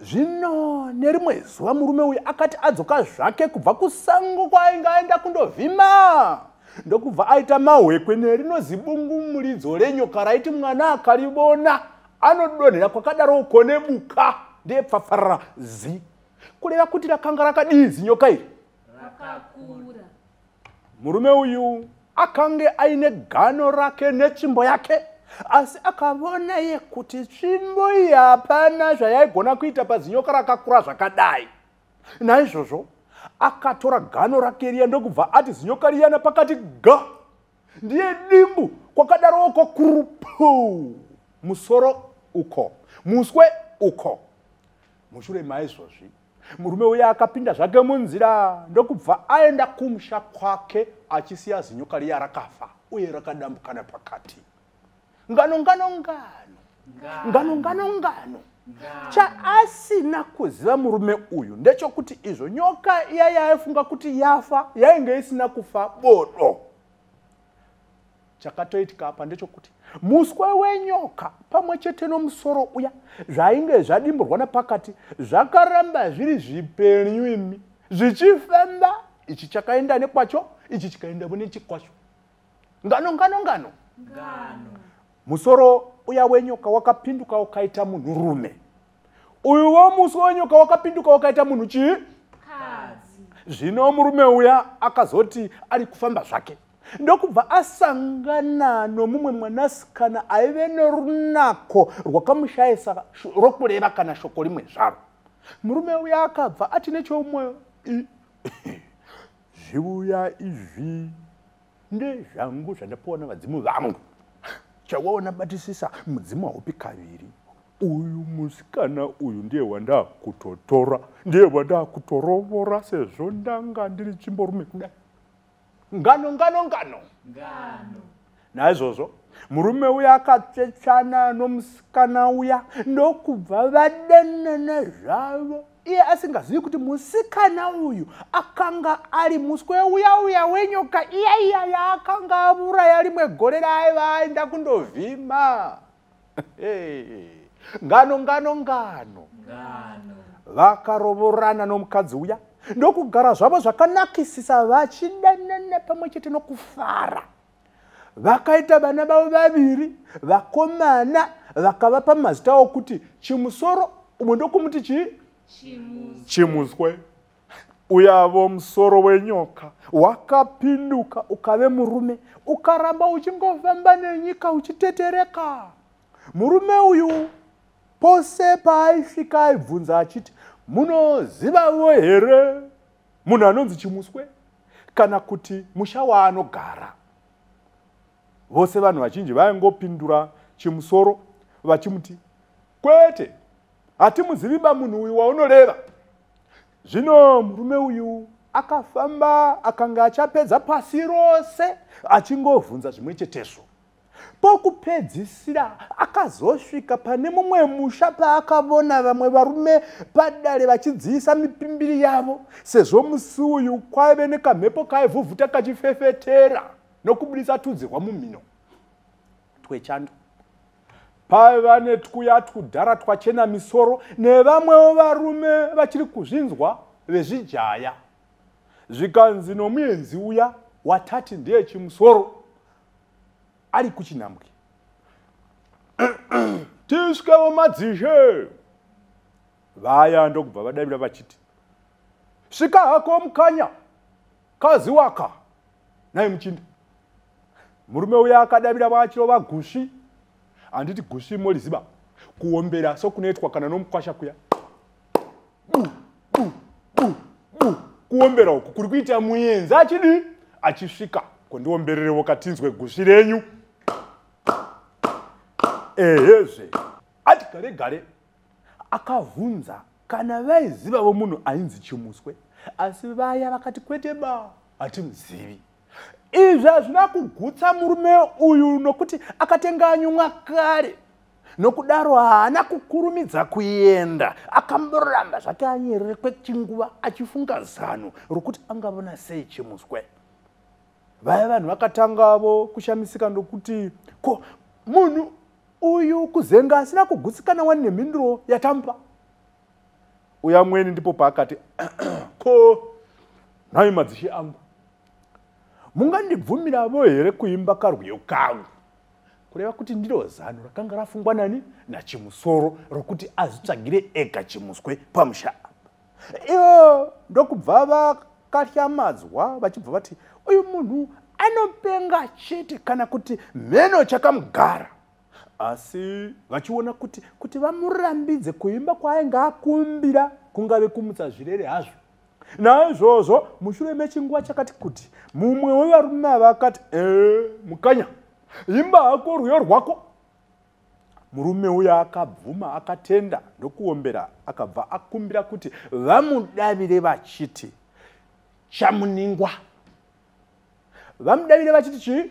zvino nerimwe zuva murume uyu akati adzoka zvake kubva kusango kwaainge aenda kundovhima ndokubva aita mahwekwe nerino zibungu muridzo renyoka raiti mwana akarivona anodonhera kwakadaro uko nebuka ndiye pfafarara zi kureva kuti rakanga rakadii zinyoka iri rakakura murume uyu akange aine gano rake netsvimbo yake asi akavona iye kuti tsvimbo iyi hapana zvayaigona kuita pazinyoka rakakura zvakadai naizvozvo akatora gano rake riya ndokubva ati zinyoka riyana pakati ga ndiye dimbu kwakadarowo kwakurupu musoro uko muswe uko mushure maizvozvi murume uye akapinda zvake munzira ndokubva aenda kumusha kwake achisiya zinyoka riya rakafa uye rakadambukana pakati ngano ngano ngano ngano ngano ngano chaasina kuziva murume uyu ndechokuti izvo nyoka iya yaifunga kuti yafa yainge isina kufa bodo chakatoitika apa ndechokuti muswe wenyoka pamwe chete nomusoro uya zvainge zvadimburwa nepakati zvakaramba zviri zvipenyu imi zvichifemba ichi chakaenda nekwacho ichi chikaenda vune chikwacho ngano ngano ngano musoro uya wenyoka wakapinduka ukaita munhurume uyu wo musi wenyoka wakapinduka wakaita munhu chii zvino murume uya akazoti ari kufamba zvake ndokubva asangana nomumwe mwanasikana aive norunako rwakamushayisa rokureva kana shoko rimwe zvaro murume uya akabva ati nechomwoyo zviuya izvi ndezvangu zvandapiwa navadzimu vangu chawaona batisisa mudzimu haupi kaviri uyu musikana uyu ndiye wandakutotora ndiye wandakutorovora sezvo ndanga ndiri chimborume kudai ngano ngano ngano ngano naizvozvo murume uya akatsvetsvana nomusikana uya ndokubva vadanana zvavo iye asingazivi kuti musikana uyu akanga ari muswe uya uya wenyoka iya iya yaakanga avuraya rimwe gore raaiva aenda kundovhima ngano ngano ngano vakarovorana nomukadzi uya ndokugara zvavo zvakanakisisa vachidanana pamwe chete nokufara vakaita vana vavo vaviri vakomana vakavapa mazita awo kuti chimusoro umwe ndokumuti chii chimuswe uyavo musoro wenyoka wakapinduka ukave murume ukaramba uchingofamba nenyika uchitetereka murume uyu pose paaisvika aibvunza achiti munozivavo here munhu anonzi chimuswe kana kuti musha waanogara vose vanhu vazhinji vaingopindura chimusoro vachimuti kwete hatimuzivi ba munhu uyu waunoreva zvino murume uyu akafamba akanga achapedza pasi rose achingobvunza zvimwe chetezvo pokupedzisira akazosvika pane mumwe musha paakavona vamwe varume padare vachidziisa mipimbiri yavo sezvo musi uyu kwaive nekamhepo kaivhuvhuta kachifefetera nokubudisa tudzi rwamumhino twechando paiva netwuya twudhara twachena misoro nevamwewo varume vachiri kuzvinzwa vezvijaya zvikanzi nomuenzi uya watati ndiye chimusoro ari kuchinhambwe tisvikevo madzishe vaya ndokubva vadavira vachiti svika hako mukanya kazi waka naye muchinda murume uya akadavira vachirova gushi handiti gushi moliziva kuombera sokunoitwa kana nomukwasha kuya bu bu bu bu kuombera uku kuri kuita muyenzi achidii achisvika kondiombererewo katinzwe gusvi renyu ehezve ati gare gare akavhunza kana vaizivavo munhu ainzi chimuswe asi vaya vakati kwete ba hatimuzivi izvi hazvina kugutsa murume uyu nokuti akatenga anyumwa kare nokudaro haana kukurumidza kuenda akamboramba zvake anyerere kwechinguva achifunga zano rokuti angavona sei chimuswe vaya vanhu vakatangavo kushamisika ndokuti ko munhu uyu kuzenga asina kugutsikana wani nemhinduro yatamupa uyo amweni ndipo paakati ko nhai madzishe angu mungandibvumiravo here kuimba karwiyo kangu kureva kuti ndiro zano rakanga rafungwa nani nachimusoro rokuti azvitsvagire ega chimuswe pamusha apa iyo ndokubva vakatyamadzwa vachibva vati uyu munhu anopenga chete kana kuti mheno chakamugara asi vachiona kuti kuti vamurambidze kuimba kwaainge akumbira kungave kumutsa zvirere hazvo naizvozvo mushure mechinguva chakati kuti mumwe wevarume ava akati ee mukanya imba hako rwiyo rwako murume uya akabvuma akatenda ndokuombera akabva akumbira kuti vamudavire vachiti chamuningwa vamudavire vachiti chii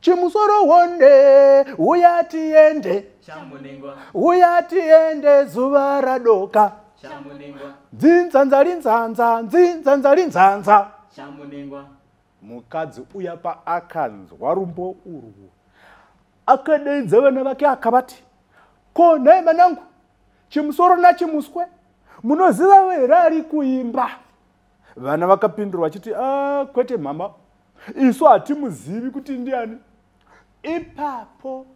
chimusoro wonde uya tiende uya tiende zuva radoka dzinzanzalinzanza dzinzanzalinzanza mukadzi uya paakanzwa rumbo urwu akadeidza vana vake akavati ko nhai manangu chimusoro nachimuswe munoziva here ari kuimba vana vakapindura vachiti a ah, kwete mhama isu hatimuzivi kuti ndiani ipapo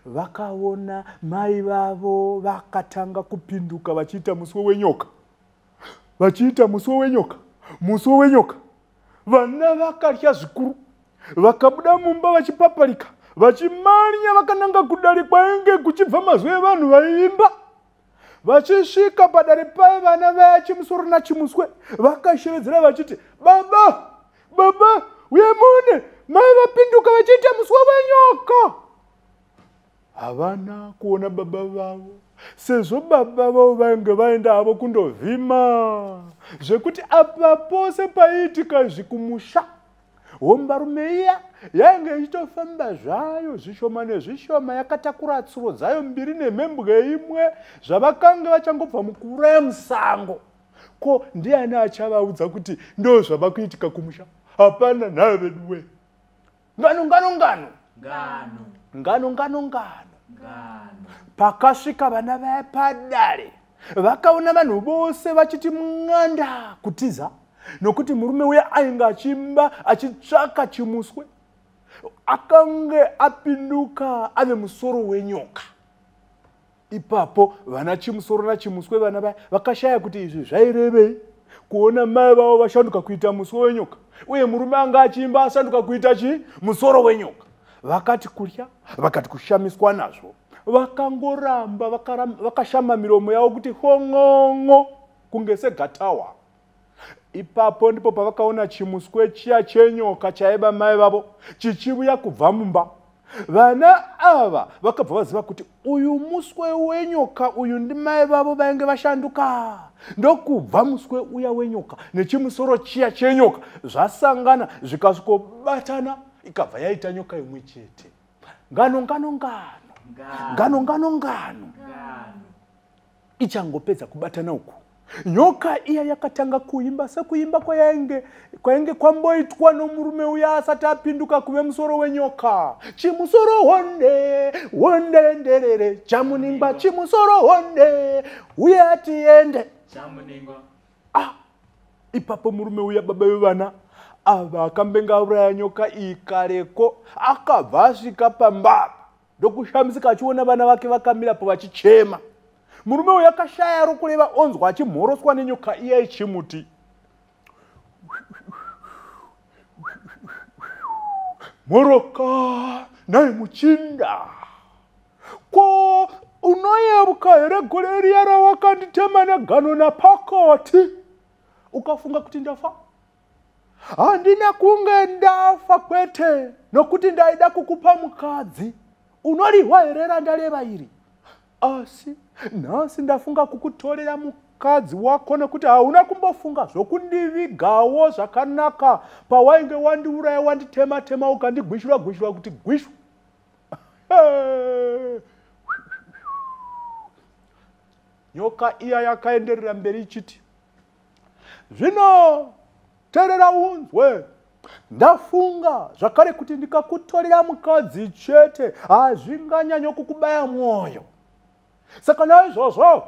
vakaona mai vavo vakatanga kupinduka vachiita muswe wenyoka vachiita muswe wenyoka muswe wenyoka vana vakatya zvikuru vakabuda mumba vachipaparika vachimanya vakananga kudare kwainge kuchibva mazwi evanhu vaiimba vachisvika padare paye vana vaya chimusoro nachimuswe vakashevedzera vachiti baba baba uye mune mai vapinduka vachiita muswe wenyoka havana kuona baba vavo sezvo baba vavo vainge vaenda havo kundovhima zvekuti apa pose paiitika zvikumusha hombarume iya yainge ichitofamba zvayo zvishoma nezvishoma yakatakura tsuro dzayo mbiri nemhembwe imwe zvavakange vachangobva mukuuraya musango ko ndiani achavaudza kuti ndo zvava kuitika kumusha hapana nhayo veduwe ngano ngano ngano ngano ngano ngano ngano pakasvika vana vaya padare vakaona vanhu vose vachiti mng'anda kutiza nokuti murume uye ainge achimba achitsvaka chimuswe akange apinduka ave musoro wenyoka ipapo vana chimusoro nachimuswe vana vaya vakashaya kuti izvi zvairevei kuona mai vavo vashanduka kuita muswe wenyoka uye murume anga achiimba asanduka kuita chii musoro wenyoka vakati kurya vakati kushamiswa nazvo vakangoramba vakashama miromo yavo kuti hon'on'o kunge segatawa ipapo ndipo pavakaona chimuswe chiya chenyoka chaiva mai vavo chichivuya kubva mumba vana ava vakabva vaziva kuti uyu muswe wenyoka uyu ndimai vavo vainge vashanduka ndokubva muswe uya wenyoka nechimusoro chiya chenyoka zvasangana zvikasvikobatana ikabva yaita nyoka imwe chete ngano ngano ngano ngano ngano ngano ichangopedza kubatana uku nyoka iya yakatanga kuimba sekuimba kwayainge kwainge kwamboitwa nomurume uya asati apinduka kuve musoro wenyoka chimusoro honde honde nderere chamuningwa chimusoro honde uye atiende chamuningwa ah ipapo murume uya baba vevana ava akambenga auraya nyoka iyi kareko akabva asvika pamba ndokushamisika achiona vana vake vakamirapo vachichema murume uyo akashaya rokureva onzwa achimhoroswa nenyoka iya ichimuti mhoroka naye muchinda ko unoyeuka here gore riya rawakanditema negano napakati ukafunga kuti ndafa handina kunge ndafa kwete nokuti ndaida kukupa mukadzi unorihwa here randaleva iri asi nhasi ndafunga kukutorera mukadzi wako nekuti hauna kumbofunga zvokundivigawo zvakanaka pawainge wandiuraya wanditema tema ukandigwishura gwishura kuti gwishu nyoka iya yakaenderera mberi ichiti zvino terera unzwe ndafunga zvakare kuti ndikakutorera mukadzi chete hazvinganyanyo kukubaya mwoyo saka naizvozvo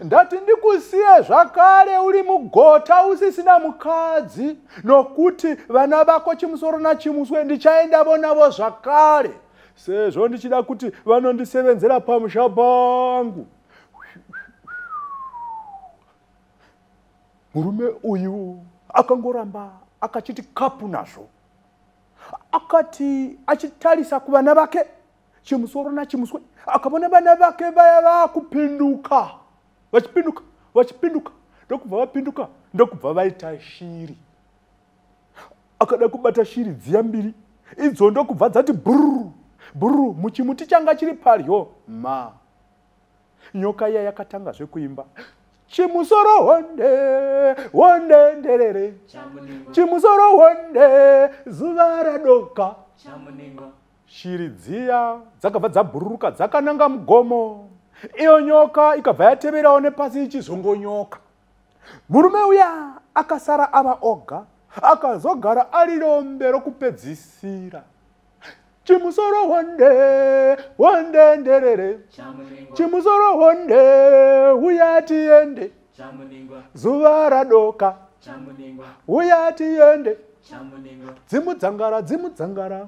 ndati ndikusiye zvakare uri mugota usisina mukadzi nokuti vana vako chimusoro nachimuswe ndichaenda vonavo zvakare sezvo ndichida kuti vanondisevenzera pamusha pangu murume uyu akangoramba akachiti kapu nazvo akati achitarisa kuvana vake chimusoro nachimuswe akavona vana vake vaya vakupinduka vachipinduka vachipinduka ndokubva vapinduka ndokubva vaita shiri akada kubata shiri dziya mbiri idzo ndokubva dzati bhururu bhururu muchimuti changa chiri padyo ma nyoka iya yakatanga zvekuimba chimusoro honde honde nderere chimusoro honde zuva radoka Shiri dziya dzakabva dzabhururuka dzakananga mugomo, iyo nyoka ikabva yateverawo nepasi ichizongonyoka. Murume uya akasara ava oga akazogara ari rombe rokupedzisira chimusoro honde honde nderere chimusoro honde uya tiende zuva radoka uya tiende dzimudzangara dzimudzangara